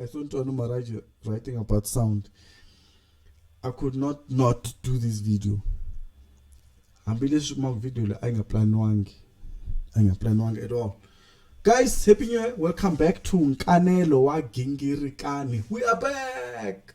I thought Ntwani Maraji writing about sound. I could not not do this video. Hambileswi kuma video leyi a yi nga planiwangi. A yi nga planiwangi at all. Guys, happy new year. Welcome back to Nkanelo wa Gingirikani. We are back.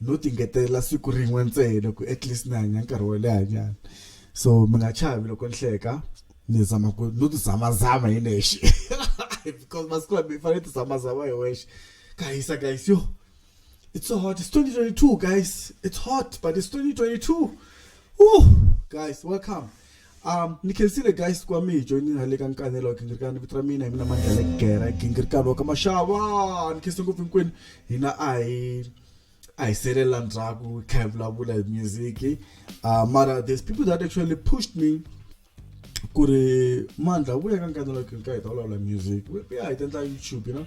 no tingetelela siku rin'we ntsena ku at least ni hanya nkarhi wo leha nyana so mi nga chavi loko ni hleka ni zama ku no ti zama zama hi nexe because masiku lama i fanele ti zama zama hi wexe ka hisa guys yo it's so hot it's 2022 guys it's hot but it's 2022 Woo! guys welcome Um, ni khensile guys ku va mi hi joinile le ka nkanelo wa gingirikani vito ra mina hi mina mandlele gera gingirikani wa ka maxava ni khense ngopfu hinkwenu hina a hi a hi selelela ndzhaku hi kha hi vulavula hi music uh, mara there's people that actually pushed me ku ri mandla vuya ka nkanelo wa gingirikani hi ta vulavula music ya hi ta endla youtube you know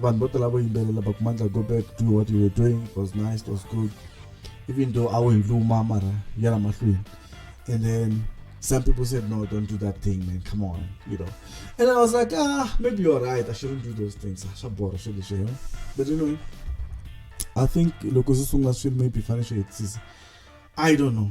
vanhu vo tala vo yimbelela but mandla go back do what you were doing it was nice it was good even though a wu hi luma mara ya la mahlweni and then some people said no don't do that thing man come on you know and i was like ah maybe you're right i shouldn't do those things swa bora swo leswi you know but you know i think loko swi sungula swilo maybe fanele swi hetisisa i don't know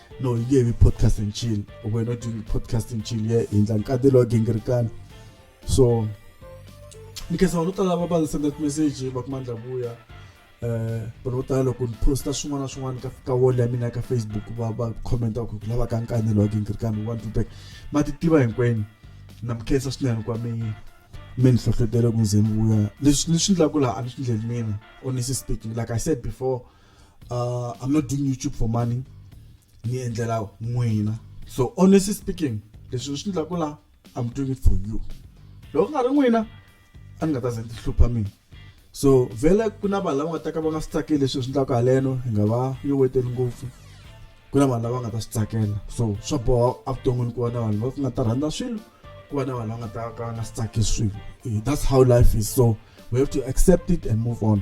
no yi nge vi podcast and chill or we're not doing podcast and chill ye hindla nkati lowa gingirikana so ni khensa vanhu vo tala lava va ndzi senda timeseji va kuma ndla vuya um vanhu vo tala loko ni posta swin'wana na swin'wana ka ka wall ya mina ka facebook va va commenta ku lava ka nkani lowa gingirikana wa ndlubek ma ti tiva hinkwenu na mi khensa swinene kwa mi mi ni hlohlotele ku ze ni vuya leswi ni swi ndlaku laha a ni swi ndleli mina honestly speaking like i said before uh, i'm not doing youtube for money ni endlela n'wina so honestly speaking leswi ni swi endlaku laha i'm doing it for you loko ku nga ri n'wina a ni nga ta ze ni tihlupha mina so vhele ku na vanhu lava nga ta ka va nga swi tsakeli leswi hi swi endlaka haleno hi nga va yo weteli ngopfu ku na vanhu lava nga ta swi tsakela so swa boha evuton'wini ku va na vanhu va nga ta rhandza swilo ku va na vanhu va nga ta ka va nga swi tsakeli swilo that's how life is so we have to accept it and move on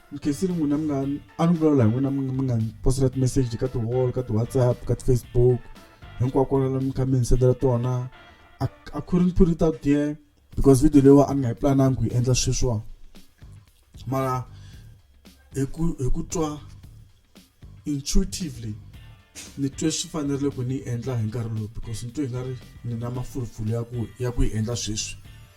Mukhensini n'wina mi nga a ni vulavula hi n'wina mi mi nga ni posela timeseji ka ti-wall ka ti-WhatsApp ka ti-Facebook hinkwako kwalano mi kha mi ni sendela tona I, I couldn't put it out there because video leyiwa a ni nga yi planangi ku yi endla sweswiwa mara hi ku hi ku twa intuitively ni twe swi fanerile ku ni yi endla hi nkarhi lowu because ni twe hi nga ri ni na mafulufulu ya ku ya ku yi endla sweswi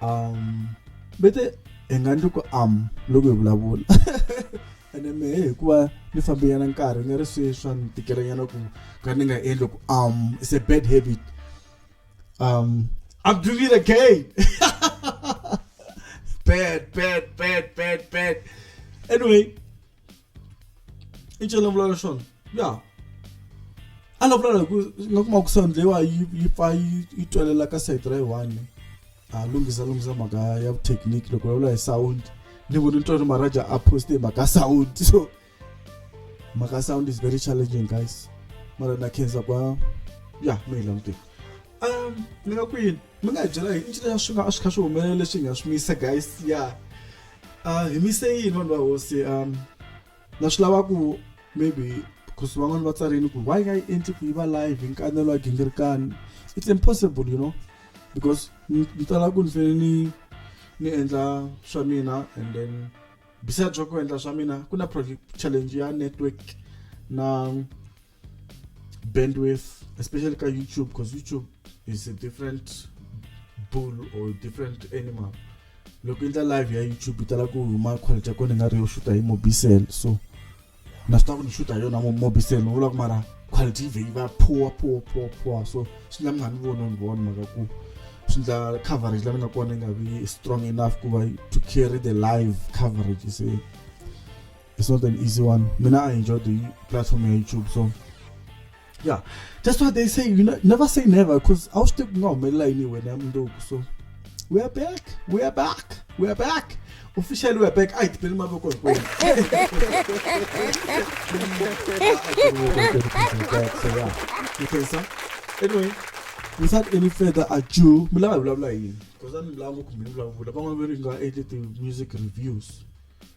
um vete hi nga ndli ku am loko hi vulavula ene mehe hikuva ni fambenyana nkarhi nga ri swi swa ni tikelanyana ku ka ni nga endli ku am it's a bad habit um i'm doing it again bad bad bad bad bad anyway i cela vulavula swona ya a la vulavula ku nga kuma ku sound leyiwa yi yi pfa yi yi twelela ka side ra yi one a lunghisa lunghisa mhaka ya technique loko vulavula hi sound ni vone ntswari maraja a poste hi mhaka sound so mhaka sound is very challenging guys mara na khensa kwa ya mi hi languteni um ni nga kwini mi nga hi byela hi i ncila swi nga swi kha swi humelela leswi hi nga swi misa guys ya yeah. Uh, hi mise yini vanhu va hosi um na swi lava ku maybe because van'wana va tsarini ku why nga yi endli ku yi va live hi nkanelo wa gingirikani it's impossible you know because ni tala ku ni fanele ni ni endla swa mina and then besides swa ku endla swa mina ku na challenge ya network na bandwidth especially ka youtube because youtube is a different bull or different animal loko endla live ya youtube yi tala ku huma quality ya kona i nga ri yo xuta hi mobicel so na swi tiva ku ni xuta hi yona mobicel ni vula ku mara quality yi vhe yi va poor poor poor poor so swi endla mi nga ni vona ni vona mhaka ku swi endla coverage la mi nga kona yi nga vi strong enough ku va to carry the live coverage se it's not an easy one mina i enjoy the platform ya youtube so yeah that's why they say you know, never say never because i was still not mela anyway so we are back we are back we are back officially we are back ayi dibhela imaboko hinkweni anyway without any further ado mi lava hi vulavula yini because a ni lava ngopfu mi vulavula van'wana va ri nga endle ti-music reviews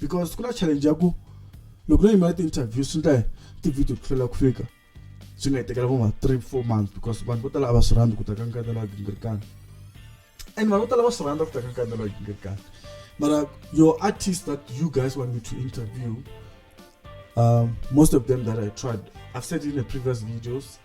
because ku na challenge ya ku loko no yimela ti-interview swi ndla ti-video ku hlwela ku fika swi nga hi tekela vo ma three four months because vanhu vo tala a va swi rhandzi ku ta ka nkanda lawa gingirikani and vanhu vo tala va swi rhandza ku ta ka nkanda lawa gingirikani mara your artist that you guys want me to interview um, most of them that i tried i've said in the previous videos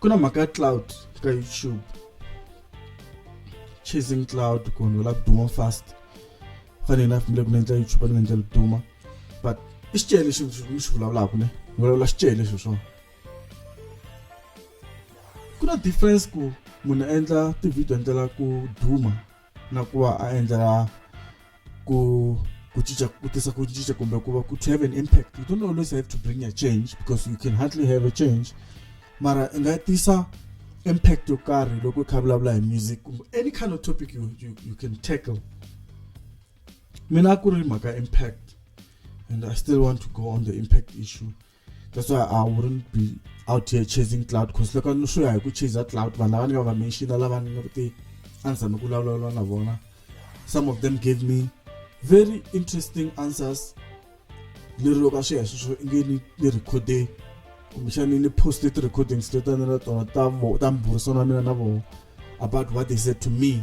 ku na mhaka ya cloud ka youtube chasing cloud ku vanhu va lava ku duma fast fanele na fanele ku ni endla youtube ni nga endla duma but i xicele lexi ni xi vulavulaka ne ni vulavula xicele lexi swona ku na difference ku munhu a endla ti-video endlela ku duma na ku va a endlela ku ku cinca ku tisa ku cinca kumbe ku va ku to have an impact you don't always have to bring a change because you can hardly have a change mara i nga tisa impact yo karhi loko i kha vulavula hi music kumbe any kind of topic you, you, you can tackle mina a ku ri mhaka impact and i still want to go on the impact issue that's why i wouldn't be out here chasing cloud because loko ni swi ya hi ku chaser cloud vanhu lava ni nga va mention lava ni nga ti a ni tshame ku vulavula na vona some of them gave me very interesting answers ni ri loko a swi ya hi sweswo i nge ni ni recorde kumbexani ni poste ti-recordings to tani na tona ta ta mburisano wa mina na vona about what they said to me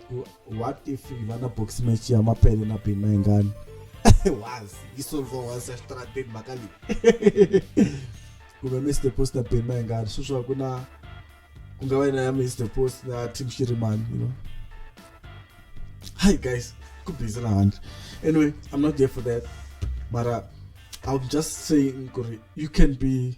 what if va na box match ya mapele na bini na ingani wazi yi solviwa wazi ya xitarateni mhaka leyi kumbe mr post na bini na ingani sweswiwa ku na ku nga va na ya mr post na team xirimani you know hi guys ku busy na handle anyway i'm not there for that mara i'm just saying you can be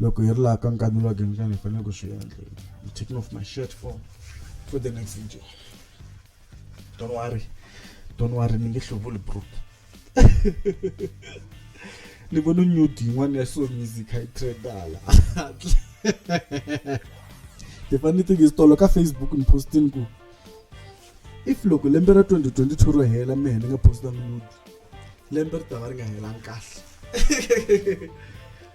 Loko hi ri laha ka nkani lowa Gemkani hi fanele ku swi endla I'm taking off my shirt for for the next video don't worry don't worry ni nge hluvuli bro ni vona nyudi yin'wana ya soul music a yi trendala the funny thing is tolo ka facebook ni postini ku if loko lembe ra 2022 ro hela mehe ni nga postanga nyudi lembe ri ta va ri nga helangi kahle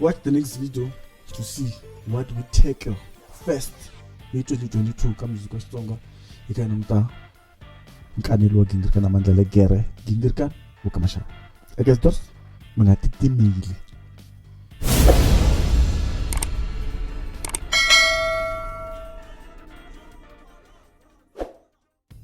Watch the next video to see what we tackle first hi 2022 ka music wa Xitsonga hi ka muta nkanelo wa gingirikana mandla le gere gingirikana wo ka mashaka eka swi dorsi mi nga titimile